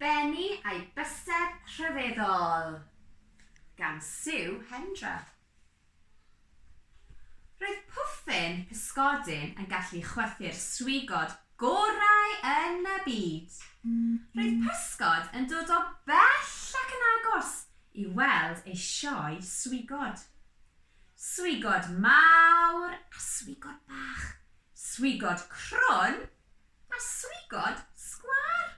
Benni a'i bysedd rhyfeddol! gan Sue Hendra. Roedd Pwffyn pysgodyn yn gallu chwythu'r swigod gorau yn y byd. Roedd pysgod yn dod o bell ac yn agos i weld ei sioe swigod. Swigod mawr a swigod bach, swigod crwn A swigod sgwâr!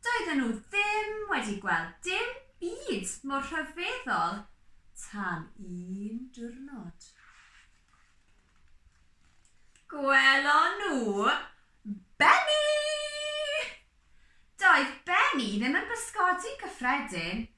Doedden nhw ddim wedi gweld dim byd mor rhyfeddol tan un diwrnod. Gwelon nhw Benny! Doedd Benny ddim yn bysgodi'n gyffredin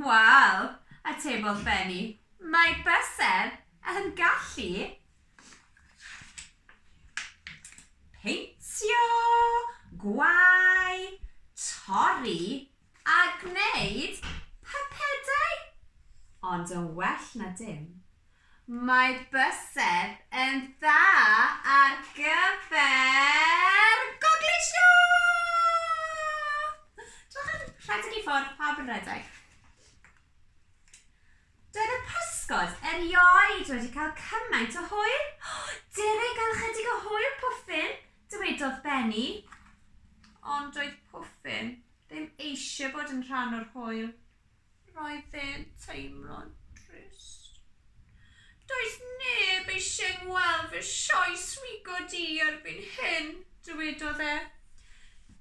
Wel, atebodd Benny, mae bysedd yn gallu peintio, gwau, torri a gwneud pypedau, ond yn well na dim. Mae bysedd yn dda ar gyfer gogleisio! Dewch yn rhedeg i ffwrdd, pawb yn rhedeg. Doedd y pysgod erioed wedi cael cymaint o hwyl. Dere i gael ychydig o hwyl, Pwffyn, dywedodd Benny. Ond doedd Pwffyn ddim eisiau bod yn rhan o'r hwyl. Roedd e'n teimlo'n drist. Does neb eisiau ngweld fy sioe swigod i erbyn hyn, dywedodd e.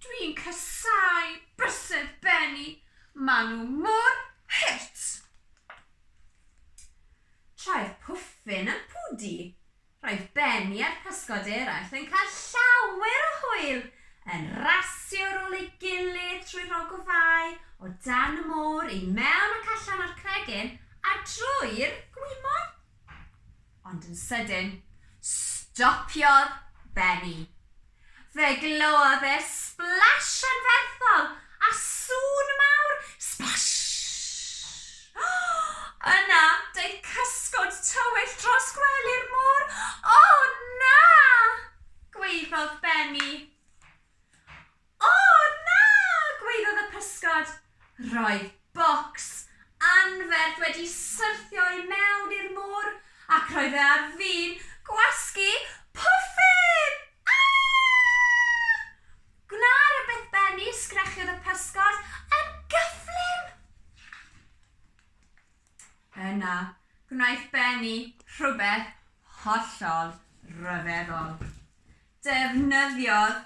Dwi'n casáu bysedd Benny, maen nhw mor hurt! Trai'r pwffin a phwdi. Roedd Ben a'r pysgod eraill yn cael llawer o hwyl yn rasio ar ôl ei gilydd trwy'r ogofâu, o dan y môr, i mewn ac allan o'r cregyn, a drwy'r gwymon. Ond yn sydyn, stopiodd Benny. Fe glywodd e splash anferthol a sŵn mawr, splash! Yna, daeth cysgod tywyll dros gwely'r môr. O, na! gwaeddodd Benny. O, na! gwaeddodd y pysgod. Roedd bocs anferth wedi syrthio i mewn i'r môr ac roedd e ar fin gwasgu pwffyn! Aah! Gwna rywbeth Benny, sgrechiodd y pysgod yn gyflym. Yna, gwnaeth Benny rhywbeth hollol ryfeddol. Defnyddiodd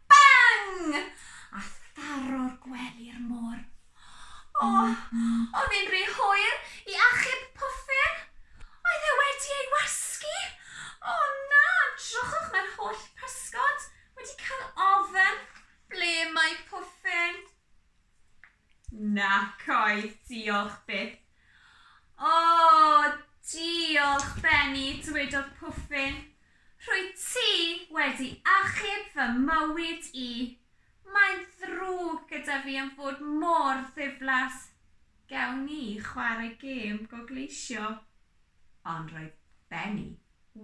Bang! A tharo'r gwely i'r môr. O! Oedd hi'n rhy hwyr i achub Puffer! Oedd e wedi ei wasgu! O na! Drychwch mae'r holl pysgod wedi cael ofer! Ble mae Puffer? Nac oedd, diolch byth. O, diolch, Benny, dywedodd Pwffyn. Rwyt ti wedi achub fy mywyd i. Mae'n ddrwg gyda fi am fod mor ddiflas. Gewn ni chwarae gêm gogleisio? Ond roedd Benny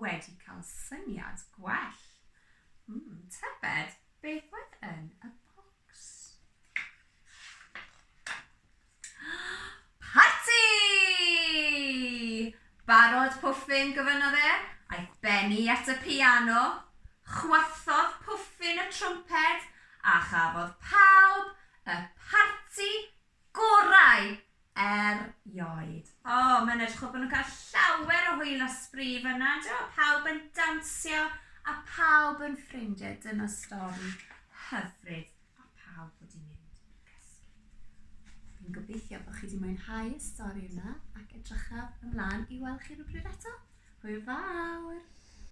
wedi cael syniad gwell. Mm, tybed beth oedd yn y bocs? Parti! Barod Pwffyn, gofynnodd e. Aeth Benny at y piano, chwythodd Pwffyn y trwmped a chafodd pawb y parti Gorau! Er ioed. O, mae'n edrych fel bod nhw'n cael llawer o hwyl a sbri fan'na, yndyw e? Pawb yn dawnsio a pawb yn ffrindiau. Dyna stori hyfryd. A pawb wedi mynd i gysgu. Fi'n gobeithio bod chi wedi mwynhau y stori yna ac edrychaf ymlaen i weld chi rhywbryd eto. Hwyl fawr!